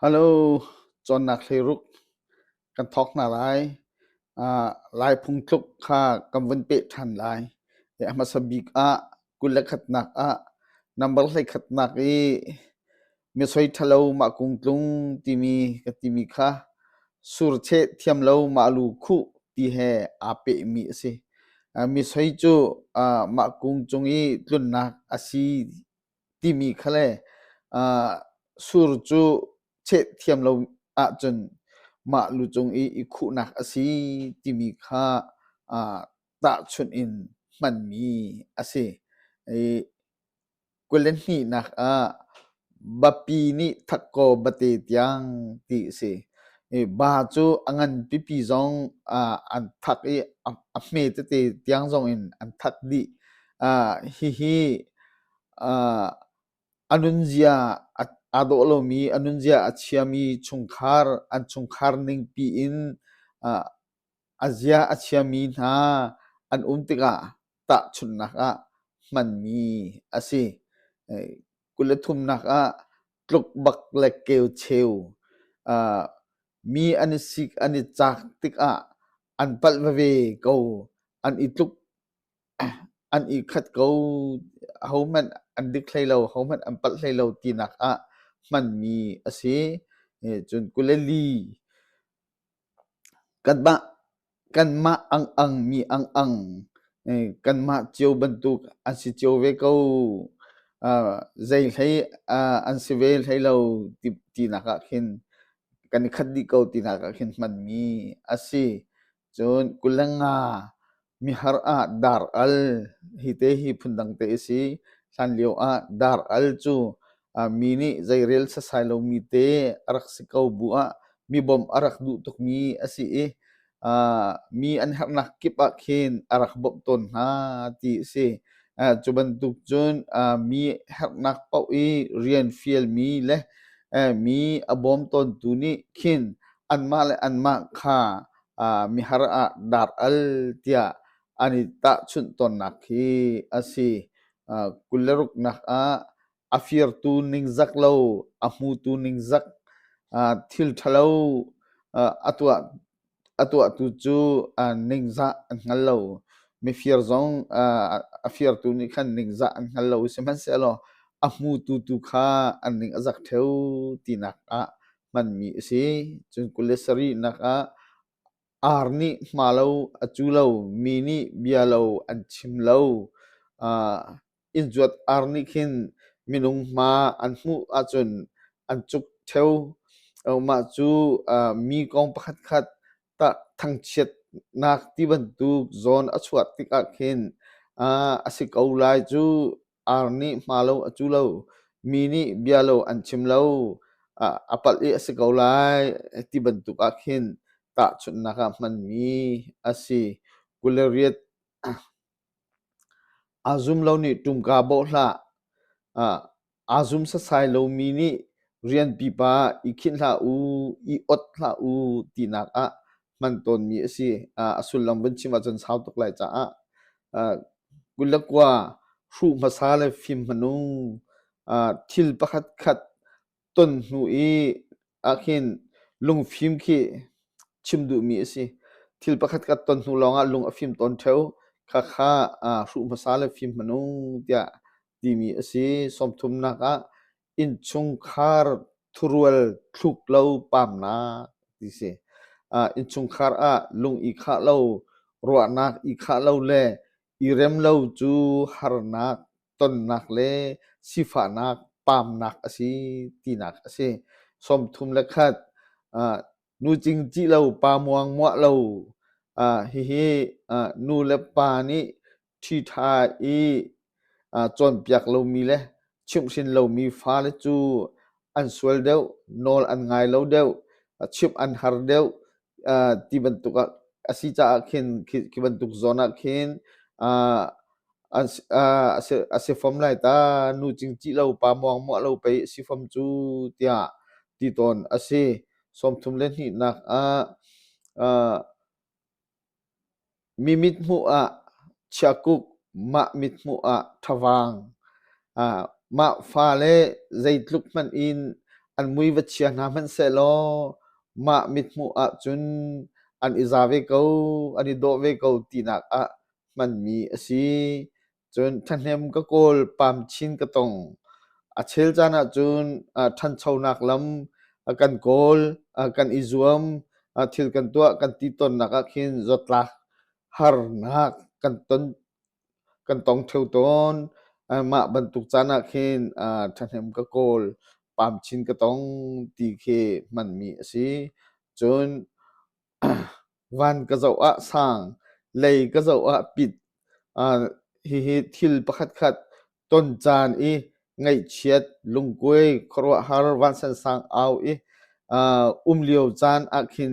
Hello, cawnnak hleiruk kan thawk hna lai. Ah, Lai phungtluk kha kan vun peh ṭhan lai. A hmasa bik ah kul le khatnak ah number hleikhatnak i misoi ṭhalo mah kung tlung timi ka timi kha surcheh thiam lo mah lu khuh ti he aa pehmi a si. Misoi cu ah mah kung cung i tlunnak a si timi kha le uh, sur cu cheh thiam lo ahcun mah lu cung i i khuhnak a si timi kha uh, tahchunh in hmanmi a si. I kule hnihnak ah bapi nih thakko bate tiang ti a si. I ba cu a ngan pipi zong uh, an thak i a, a hme tete tiang zong in an thak dih. Uh, hihi a nunzia aa dawh lomi a nunzia a chiami chungkhar an chungkhar ningpi in a zia a chiami hna an um tikah tahchunhnak ah hmanmi a si. Kul le thumnak ah tluk bak le keu cheu. Mi an i sik an i cak tikah an palh veve ko. An i tluk an ikhat ko. Hohmanh an dik hlei lo, hohmanh an palh hlei lo tinak ah hmanmi a si. Cun kul le li kanmah, kanmah angang mi angang kanmah cio bantuk an si cio ve ko. Zei hlei an si ve hlei lo tinak ah khin kan ikhat dih ko tinak ah khin hmanmi a si. Cun kulenga mihar ah dar al hi te hi phundang te a si. Hlan lio ah dar al cu uh, mi nih zeirel sasai lomi te a rak si ko bu ah mi bawmh a rak duh tukmi a si i uh, mi an herhnak kip ah khin a rak bawmh tawn hna ti a si. Uh, cu bantuk cun uh, mi herhnak paoh i rian fialmi le uh, mi a bawm tawntu nih khin anmah le anmah kha mihar ah dar al tiah an i tahchunh tawnnak khi a si. kul le ruknak ah a firtu ningzak lo, a hmutu ningzak, thil ṭhalo a tuah a tuahtu cu ningzah an hngal lo. Mifir zong a firtu nih khan ningzah an hngal lo, sihmanhsehlaw a hmutu tu kha an ning a zak ṭheu tinak ah hmanmi a si. Cun kul le sarih nak ah ar nih hma lo a cu lo, mi nih bia lo an chim lo. Uh, inn zuat ar nih khin minung hma an hmuh ahcun an cuk theo. Mah cu uh, mi kong pakhat khat tah thangchiatnak ti bantuk zawn a chuah tikah khin uh, a si ko lai cu. Ar nih hma lo a cu lo. Mi nih bia lo an chim lo. A palh i a si ko lai ti bantuk ah khin tahchunhnak ah hmanmi a si. Kul le riat. Aa zum lo nih ṭumka bawh hlah. Aa zum setsai lomi nih rian pipa i khinh hlah u, i ot hlah u tinak ah hman tawnmi a si. A sullam vun chim ahcun sau tuk lai caah. Kulakua hruh hmasa le fim hmanu thil pakhat khat ton hnu i ahhin lungfim khi chim duhmi a si. Thil pakhat khat ton hnu lawngah lung a fim tawn ṭheo. Khakha hruh hmasa le fim hmanu tiah timi a si. Sawmthumnak ah Innchungkhar thurual thluk lo pamnak ti si. Ah innchungkhar ah lung i khah lo, ruahnak i khah lo le i rem lo cu harnak, tonnak le sifahnak pamnak a si tinak a si. Sawmthum le khat ah nu cing ṭih lo, pa muang muah lo, ah hihi ah nu le pa nih ṭhitha i cawnpiak lomi le chimhhrin lomi fale cu an sual deuh, nawl an ngai lo deuh, chimh an har deuh ti bantuk ah a si caah khin khi bantuk zawn ah khin a si fom lai ta. Nu cingcih lo, pa muangmuah lo pei a si fom cu tiah ti tawn a si. Sawmthum le hnihnak ah Mi mithmuh ah chiakuk, mah mithmuh ah ṭhavaang, mah fa le zeitluk hmanh in an mui va chia hna hmanhsehlaw mah mithmuh ahcun an i za ve ko, an i dawh ve ko tinak ah hmanmi a si. Cun ṭhahnem ka kawl, pam chin ka tong. A chel caan ahcun ah ṭhanchonak lam a kan kawl, a kan i zuam, a thil kan tuah kan ti tonnak ah khin zawtlak harnak kan ton kan tong ṭheo tawn. Uh, mah bantuk caan ah khin uh, ṭhahnem ka kawl, pam chin ka tong ti khi hmanmi a si. Cun Van ka zoh ah sang, lei ka zoh ah pit. Hihi thil pakhatkhat ton caan i ngaihchiat, lungkuai, khuaruahhar, vansan sang au i um lio caan ah khin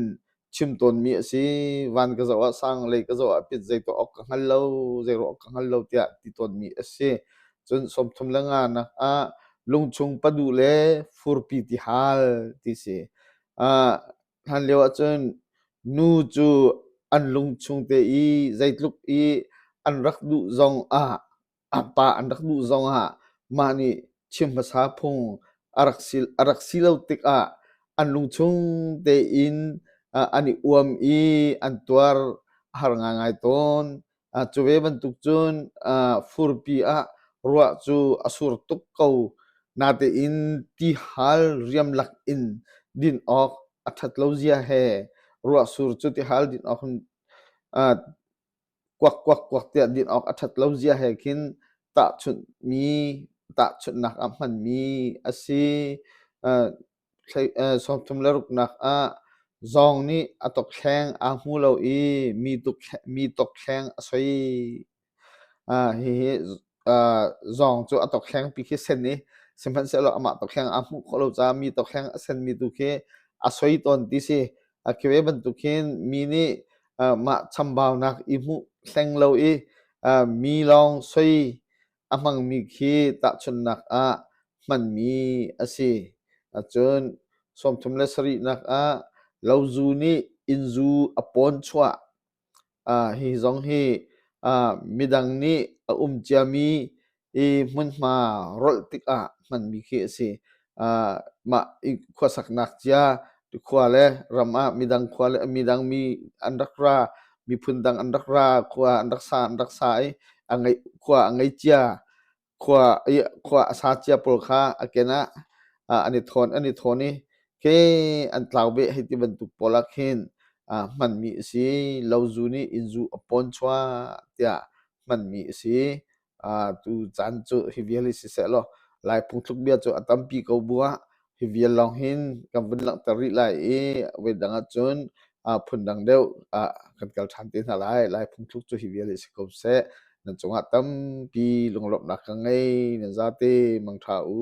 chim tawnmi a si. Van ka zoh ah sang, lei ka zoh ah pit, zei tuah awk ka hngal lo, zei ruah awk ka hngal lo tiah ti tawnmi a si. Cun sawmthum le nga nak ah lungchung padu le furpi ti hal ti si. Hlanlio ahcun nu cu an lung chung te i zeitluk i an rak duh zong ah pa an rak duh zong ah mah nih chim hmasa phung a rak si a rak si lo tikah an lung chung tein an i uam i an tuar a har ngaingai tawn. Cu ve bantuk cun furpi ah ruah cu a sur tuk ko. Natein tihal riamlak in din awk a ṭhat lo zia he ruahsur cu tihal din awk in kuak kuak kuak tiah din awk a ṭhat lo zia he khin tahchunhmi, tahchunhnak a hmanmi a si. sawmthum le ruknak ah zawng nih a tokhleng aa hmu lo i mi tokhleng a soi. Hihi zawng cu a tokhlengpi khi sen i sihmanhsehlaw amah tokhleng aa hmuh khawh lo caah mi tokhleng a senmi tu khi a soi tawn ti si. Khi ve bantuk hin mi nih mah chambaunak i hmuh hleng lo i mi lawng soi A hmangmi khi tahchunhnak ah hmanmi a si ahcun sawmthum le sarihnak ah lozu nih innzu a pawn chuah hi zong hi midang nih a um ciami i hmunhma rolh tikah hmanmi khi a si. mah khuasaknak cia khua le ram ah midang khua le midang mi an rak ra miphun dang an rak ra khua an rak sa an rak sa i a ngei khua a ngei cia khua i khua a sa cia pawl kha a ken ah an i thawn an i thawn i ke an tlau beh hei ti bantuk pawl ah khin hmanmi a si lo zu nih inn zu a pawn chuah tiah hmanmi a si tu caan cu hi vial hi sisehlaw lai phungthluk bia cu a tampi ko bua hi vial lawng hin kan vun langhter rih lai i voi dang ah cun phun dang deuh kan kal ṭhan te hna lai lai phungthluk cu hi vial hi si ko seh nan cungah tampi lunglawmhnak ka ngei nan zate mangṭha u